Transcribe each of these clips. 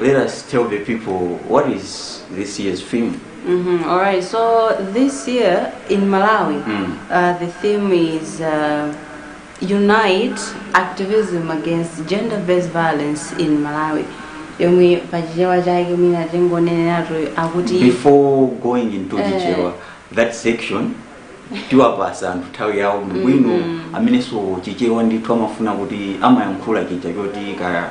Let us tell the people what is this year's theme. Mm-hmm. All right. So this year in Malawi, Mm. uh, the theme is uh, unite activism against gender-based violence in Malawi. yomwe pachichewa chake mwina tingoneneratu akuti Before going into the Eh. chichewa, that section tiwapasa anthu nthawi yawo mbwino amenenso chichewa ndithu amafuna kuti amayankhula chija choti ka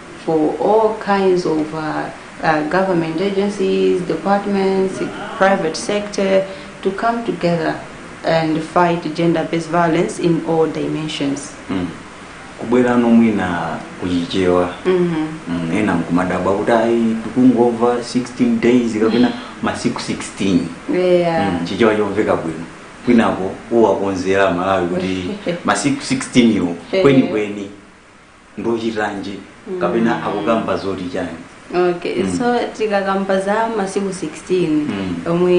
for all kinds of uh, uh, government agencies, departments, private sector to come together and fight gender-based violence in all dimensions. Mm. kubwerano mwina kuchichewa Mm-hmm. mm, ena mkumadabwa kuti ayi tikungomva 16 days kapena masiku 16 Yeah. mm, chichewa chomveka bwino kwinako uwakonzere amalawi kuti masiku 16 yo kwenikweni ndochitanji kapena akukamba zoti chani okay so tikakamba za masiku 16 Mm. omwe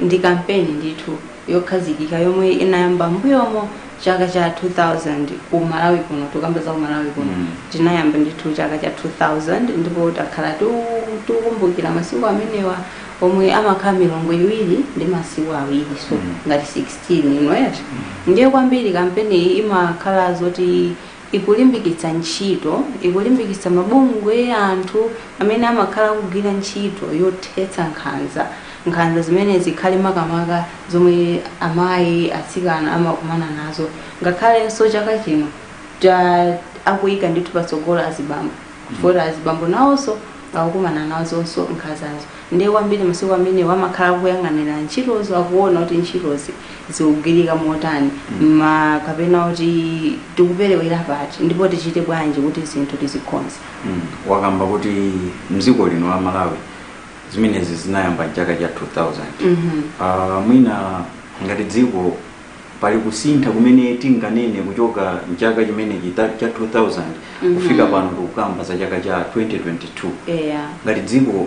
ndi kampeni ndithu yokhazikika yomwe inayamba mbuyomo chaka cha 2000 ku malawi kuno tikamba za ku malawi kuno Mm. tinayamba ndithu chaka cha 2000 ndipo takhala tiku- tikukumbukira masiku amenewa omwe amakhala milungu iwiri ndi masiku awiri so Mm. ngati 16 inoyati ndiye kwambiri kampeni iyi imakhala zoti ikulimbikitsa ntchito, ikulimbikitsa mabungwe, anthu amene amakhala akugwira ntchito yothetsa nkhanza, nkhanza zimene zikhale makamaka zomwe amayi, atsikana amakumana nazo, ngakhalenso chaka chino ta akuyika ndithu patsogolo azibambo chifukwa azibambo nawonso akukumana nazonso nkhanzazo. Ndiye kwambiri masiku amenewa amakhala akuyang'anira ntchitozi akuona kuti ntchitozi zikugwirika motani ma kapena kuti tikuperewera pati ndipo tichite bwanji kuti zinthu tizikonze Mm, wakamba kuti mdziko lino la malawi zimenezi zinayamba mchaka cha 2000 Mhm. Ah, mwina ngati dziko pali kusintha kumene tinganene kuchoka mchaka chimenechi ta- cha 2000 Mhm. kufika pano tikukamba za chaka cha 2022 eya ngati dziko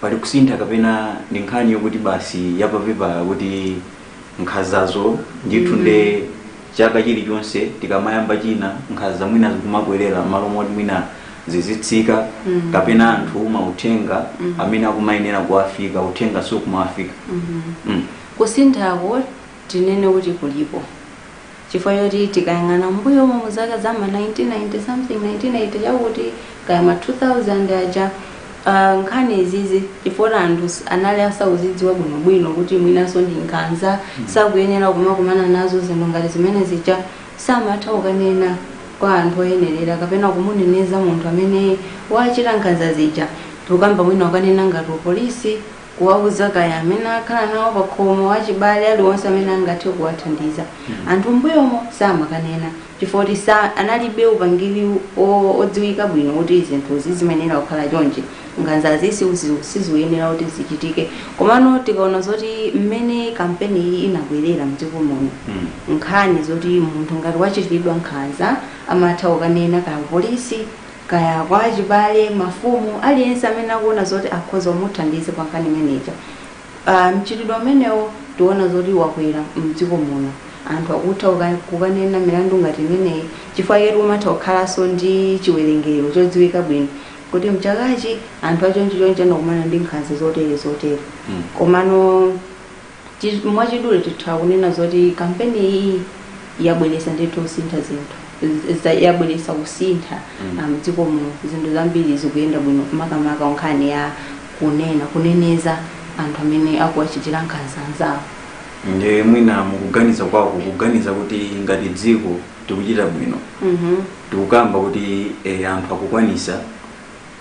pali kusintha kapena ndi nkhani yokuti basi yapapepala kuti nkhanzazo ndithu Mhm. nde chaka chilichonse tikamayamba china nkhanza mwina zikumakwerera malo moti mwina zizitsika Mhm. kapena anthu mauthenga Mhm. amene akumayenera kuwafika uthenga sukumawafika Mhm. mm. Kusinthako tinene kuti kulipo chifukwa choti tikayang'ana m'mbuyomo mu zaka za ma 1990 something 1980 chakuti kaya ma 2000 aja uh, nkhani izizi chifukwa anthu s- anali asauzidziwa bwinobwino kuti mwinanso ndi nkhanza sakuyenera kumakumana nazo zinthu ngati zimene zija samatha kukanena kwa anthu oyenerera kapena kumuneneza munthu amene wachita nkhanza zija tikukamba mwina ukanena ngati upolisi kuwauza kaya amene akhala nawo pakhomo wachibale aliwonse amene angathe kuwathandiza anthu mbuyomo samakanena chifukwa kuti sa analibe upangiri o- odziwika bwino kuti zinthu zisamayenera kukhala chonchi nkhanzazi sizi- siziuyenera kuti zichitike komano tikaona zoti mmene kampeni iyi inabwerera mdziko muno nkhani zoti munthu ngati wachitiridwa nkhanza amatha kukanena kaya polisi kaya kwa achibale, mafumu, aliyense amene akuona zoti akhoza kumuthandiza pa nkhani imene ija. Ah, Mchitidwe umenewo tiona zoti wakwera mdziko muno anthu akutha kuka- kukanena milandu ngati imeneyi chifukwa chaketu kumatha kukhalanso ndi chiwerengero chodziwika bwino kuti mchakachi anthu achonchichonchi anakumana ndi nkhanza zotere zotere Mm. komano Chi- mwachidule titha kunena zoti kampeni iyi yabweretsa ndithu kusintha zinthu Z- za- yabweretsa kusintha Mm. ah, mdziko muno zinthu zambiri zikuyenda bwino makamaka nkhani ya kunena kuneneza anthu amene akuwachitira nkhanza anzawo nde mwina mukuganiza kwako ukuganiza kuti ngati dziko tikuchita bwino Mhm. tikukamba kuti eh, anthu akukwanisa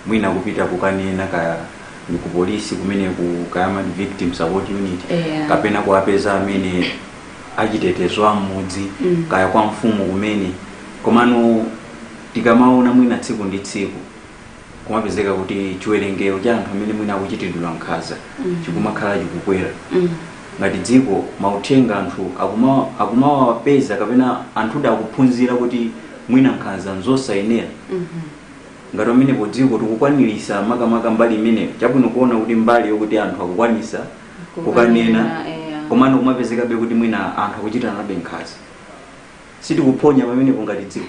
mwina kupita kukanena kaya ndi ku polisi kumene ku kaya ma victim support unit Yeah. kapena kuwapeza amene achitetezo a mmudzi Mm. kaya kwa mfumu kumene komano tikamaona mwina tsiku ndi tsiku kumapezeka kuti chiwerengero cha anthu amene mwina akuchitiridwa nkhanza Mm. chikumakhala chikukwera Mm. ngati dziko mauthenga anthu akuma- akumawapeza kapena anthu akuphunzira kuti mwina nkhanza nzosayenera Mhm. Ngati pamenepo dziko tikukwanilisa makamaka mbali imeneyo chabwino kuona kuti mbali yokuti anthu akukwanisa kukanena komano kumapezekabe kuti mwina anthu akuchitiranabe nkhanza sitikuphonya pamenepo ngati dziko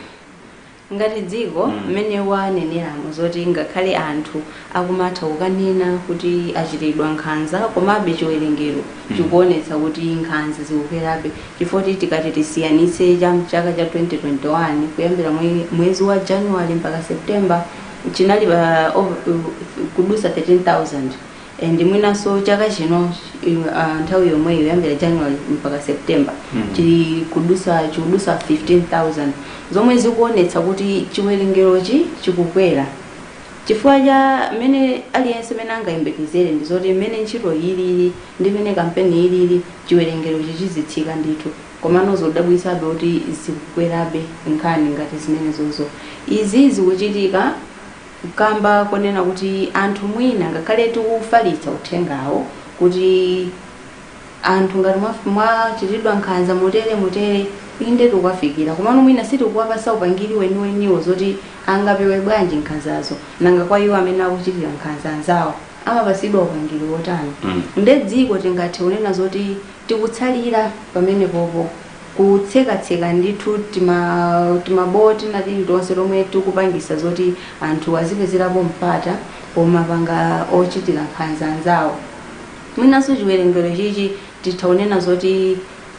ngati dziko Mm. mmene waneneramo zoti ngakhale anthu akumatha kukanena kuti achitiridwa nkhanza komabe chiwerengero chikuonetsa kuti nkhanza zikukwerabe Chifoti tikati tisiyanitse cha mchaka cha 2021 kuyambira mwe, mwezi wa January mpaka September chinali pa uh, kudutsa 13000 and mwinanso chaka chino uh, nthawi yomweyo kuyambira January mpaka September mm. chili kudutsa chikudutsa 15000 zomwe zikuonetsa kuti chiwerengerochi chikukwera chifukwa cha mmene aliyense mmene angayembekezere ndi zoti mmene ntchito ilili ndi mmene kampeni ilili chiwerengerochi chizitsika ndithu komano zodabwitsabe kuti zikukwerabe nkhani ngati zimenezozo. Izi zikuchitika kamba konena kuti anthu mwina ngakhale tikufalitsa uthengawo kuti anthu ngati mwaf- mwachitidwa nkhanza motere motere inde tikuwafikira komano mwina sitikuwapasa upangiri weniweniwo zoti angapewe bwanji nkhanzazo nanga kwa iwo amene akuchitira nkhanza anzawo amapatsidwa upangiri wotani Mm. nde dziko tingathe kunena zoti tikutsalira pamene popo kutsekatseka ndithu tima- timaboti natili tonse tomwe tikupangisa zoti anthu azipezerapo mpata pomapanga ochitira nkhanza anzawo mwinanso chiwerengero chichi titha kunena zoti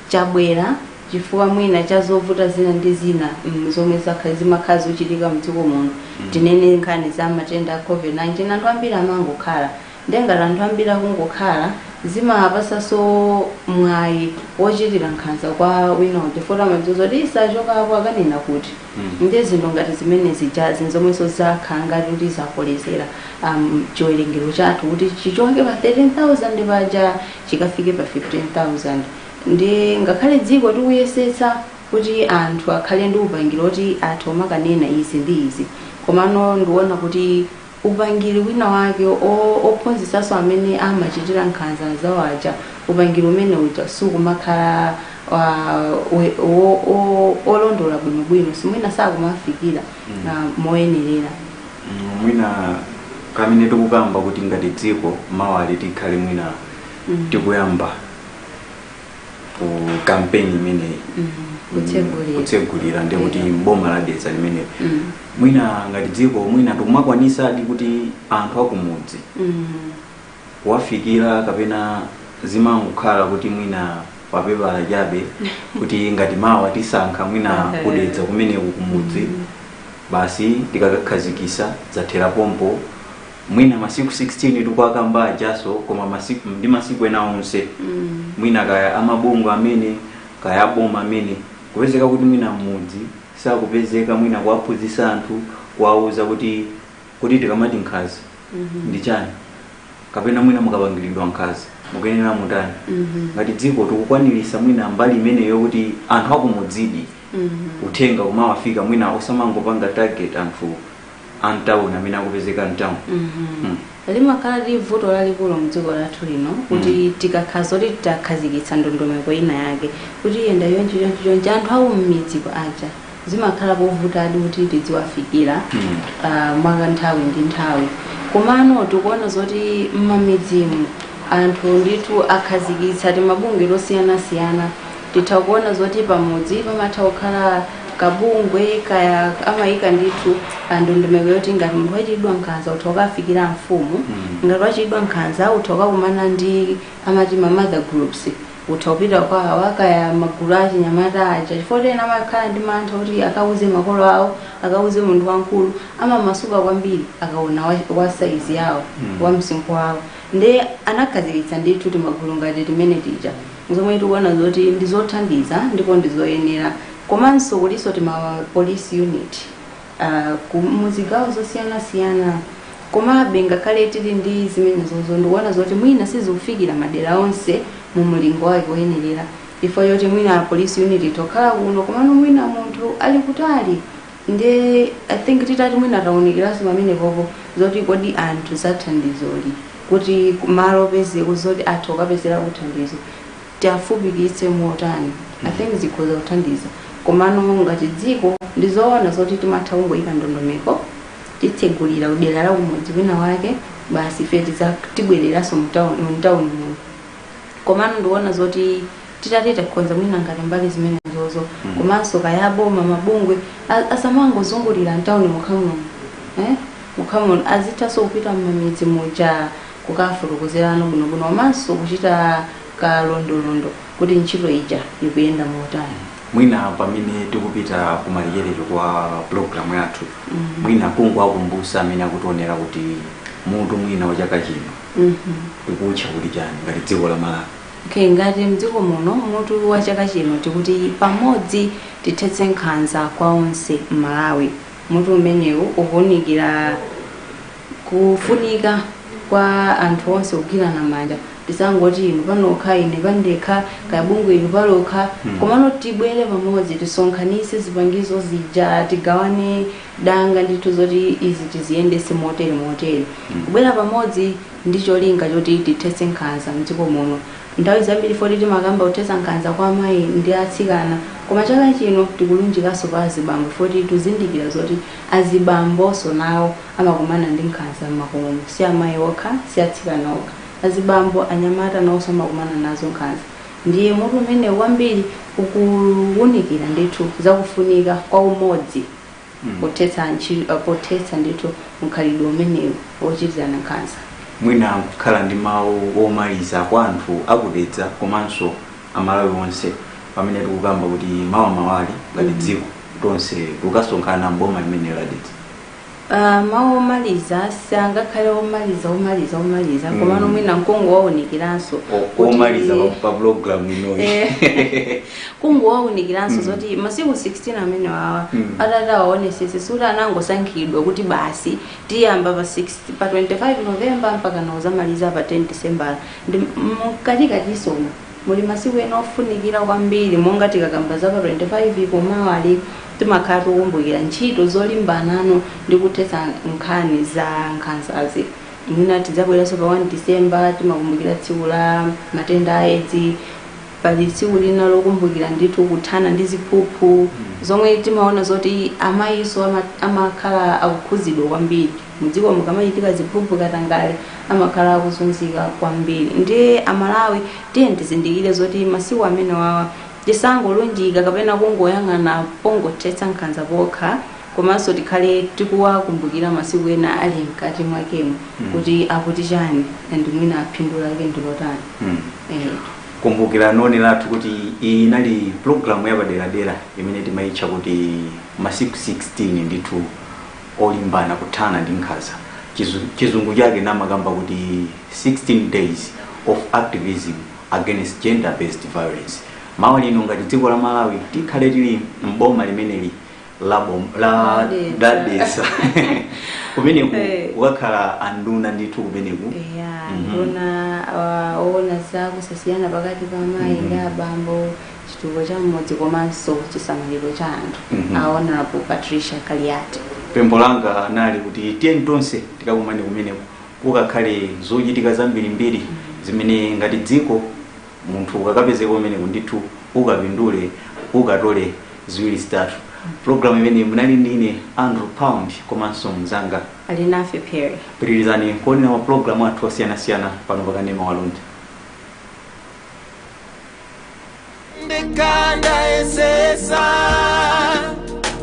chabwera chifukwa mwina cha zovuta zina ndi zina mm, zomwe zakha- zimakhala zochitika mdziko muno tinene nkhani za matenda a covid-19 anthu ambiri amangokhala ndengati anthu ambiri akungokhala zimapasaso mwayi wochitira nkhanza kwa wina uja foti amadziwa kuti isachoka apo akanena kuti Mm. ndi zinthu ngati zimene zijazi nzomwenso zakhala ngati kuti zakolezera um, chiwerengero chathu kuti chichoke pa 13000 paja chikafike pa 15000 Nde ngakhale dziko tikuyesetsa kuti anthu akhale ndi upangiri oti atha kumakanena izi ndi izi, komano ndikuona kuti upangiri wina wake o, ophunzitsanso amene amachitira nkhanza anzawo aja, upangiri umene uja sukumakhala wa, we, wo, o, olondola bwinobwino, si mwina sakumafikira ah, moyenerera. Mm, mwina kamene tikukamba kuti ngati dziko mawali tikhale mwina tikuyamba ku kampeni imeneyi Mm, kutsegulira. kutsegulira ndi kuti Yeah. mboma la Dedza limeneli Mm. mwina ngati dziko mwina tikumakwanisadi kuti anthu akumudzi Mm. kuwafikira kapena zimangokhala kuti mwina papepala chabe kuti ngati mawa tisankha mwina Eh. kudedza kumeneku kumudzi basi tikakakhazikisa zathera pompo mwina masiku 16 tikuwakamba ajaso koma masiku ndi masiku ena onse mwina kaya amabungwe amene kaya aboma amene kupezeka kuti mwina mmudzi sakupezeka mwina kuwaphunzitsa anthu kuwauza kuti kuti tikamati nkhaza ndi chani kapena mwina mukapangiridwa nkhaza mukuyenera mutani ngati dziko tikukwanirisa mwina mbali imeneyo kuti anthu akumudzidi uthenga kumawafika mwina osamangopanga target anthu a mtauni amene akupezeka mtauni Mm. limakhala lili vuto lalikulu mdziko lathu lino kuti tikakhala zoti takhazikitsa ndondomeko ina yake kuti yenda yonchi yonchi yonchi anthu awo mmidzi aja zimakhala povutadi kuti tidziwafikira Mm. ah, mwa kanthawi ndi nthawi komano tikuona zoti mmamidzimu anthu ndithu akhazikitsa timabungwe tosiyanasiyana titha kuona zoti pamudzi pamatha kukhala kabungwe kaya amayika ndithu ndondomeko yoti ngati munthu wachitidwa nkhanza utha kukafikira mfumu ngati wachitidwa nkhanza utha kukakumana ndi amati ma mother groups utha kupita kwa awa kaya magulu a chinyamata aja chifukwa choti ena amakhala ndi mantha kuti akauze makolo awo akauze munthu wamkulu amamasuka kwambiri akaona wa- wa saizi yawo wa msinkhu wawo nde anakhazikitsa ndithu timagulu ngati timene tija zomwe tikuona zoti ndi zothandiza ndipo ndi zoyenera komanso kulinso tima police unit uh, ku- mu zigawo zosiyanasiyana komabe ngakhale tili ndi zimenezozo ndikuona zoti mwina sizikufikira madera onse mu mlingo wake woyenerera chifukwa choti mwina police unit tokhala kuno komano mwina munthu ali kutali nde i think titati mwina tawunikiranso pamenepopo zoti kodi anthu za thandizoli kuti malo opezeko zoti atha kukapezerako thandizo tiafupikitse motani i think zikhoza kuthandiza komano ngati dziko ndizoona zoti timatha kungoyika ndondomeko titsekulira kudera la kumudzi wina wake basi ife tiza- tibwereranso mutawuni muno komano ndikuona zoti titati takonza mwina ngati mbali zimenezozo mm. komanso kaya aboma mabungwe asamangozungulira mtawuni mokhamuno eh? mokhamuno azithanso kupita mmamidzi muja kukafotokozerano bwinobwino komanso kuchita kalondolondo kuti ntchito ija ikuyenda motani mwina pamene tikupita kumalekezero kwa programu yathu mm -hmm. mwina kungowakumbutsa amene akutionera kuti mutu mwina wa chaka chino ukutcha kuti chani ngati dziko la malawi okay ngati mdziko muno mutu wa chaka chino tikuti pamodzi tithetse nkhanza kwa onse m'malawi mutu umenewu ukuwunikira kufunika kwa anthu onse kugwirana manja tisangoti inu panokha ine pandekha kaya bungwe inu palokha komano tibwere pamodzi tisonkhanise zipangizo zija tigawane danga ndithu zoti izi tiziyendese motere motere kubwera pamodzi ndi cholinga choti tithetse nkhanza mdziko muno nthawi zambiri foti timakamba kuthetsa nkhanza kwa amayi ndi atsikana koma chaka chino tikulunjikanso pa azibambo foti tuzindikira zoti azibambonso nawo amakumana ndi nkhanza m'makomomu. si amayi okha si atsikana okha azibambo anyamata nawonso amakumana nazo nkhanza ndiye mutu umenewu kwambiri ukuwunikira ndithu zakufunika kwa umodzi pothetsa ntchi- eh, pothetsa ndithu mkhalidwe umenewu wochitirana nkhanza mwina kukhala ndi mawu omaliza kwa anthu aku Dedza komanso amalawi onse pamene tikukamba kuti mawa mawa lino ngati dziko tonse tikasonkhana mboma limene la Dedza Ah, mawu omaliza sangakhale omaliza omaliza omaliza Mm. komano mwina nkungowawunikiranso O- kuti- omaliza pa- pa pulogalamu inoyi Eh, kungowaunikiranso mm. zoti masiku 16 amene wawa mm. atatawaonesesa sikuti anangosankhidwa kuti basi tiyamba pa 6 pa 25 novemba mpaka ndi kudzamaliza pa 10 disembala ndi mkatikatisomo muli masiku ena ofunikira kwambiri monga tikakamba za pa 25 komawa lino timakhala tikukumbukira ntchito zolimbana ndi kuthetsa nkhani za nkhanzazi mwina tidzabweranso pa 1 disemba timakumbukira tsiku la matenda a edzi pali tsiku lina lokumbukira ndithu kuthana ndi ziphuphu zomwe timaona zoti amayiso ama- amakhala akukhudzidwa kwambiri mudzikomu kukamachitika ziphuphu katangale amakhala akuzunzika kwambiri ndiye amalawi tiye tizindikire zoti masiku amene wawa tisangolunjika kapena kungoyang'ana pongothetsa nkhanza pokha komanso tikhale tikuwakumbukira masiku ena ali mkati mwakemo kuti akuti chani and mwina phindu lake ndilotani Eh, kumbukirani oonera athu kuti iyi inali pulogalamu yapaderadera imene timayitcha kuti masiku 16 ndithu olimbana kuthana ndi nkhanza Chizu- chizungu chake amakamba kuti 16 days of activism against gender based violence mawa lino ngati dziko la malawi tikhala tili mboma limeneli la bom- la Dedza. la Dedza kumeneku Eh. kukakhala anduna ndithu kumeneku eya Mhm. nduna yoona za kusasiyana pakati pa amayi ndi abambo chitukuko cha mmudzi komanso chisamaliro cha anthu Mhm. a honourable patricia kaliati pempho langa nlakuti tiyeni tonse tikakumane kumeneku kukakhala zochitika zambirimbiri zimene ngati dziko munthu ukakapezeka kumeneko ndithu ukapindula ukatola ziwiri zitatu programu imeneyi munali ndi ine andrew pound komanso mzanga Alinafe Phiri pitirizani kuonera mapulogalamu athu osiyanasiyana pano pakanema wa Luntha ndekanda esesa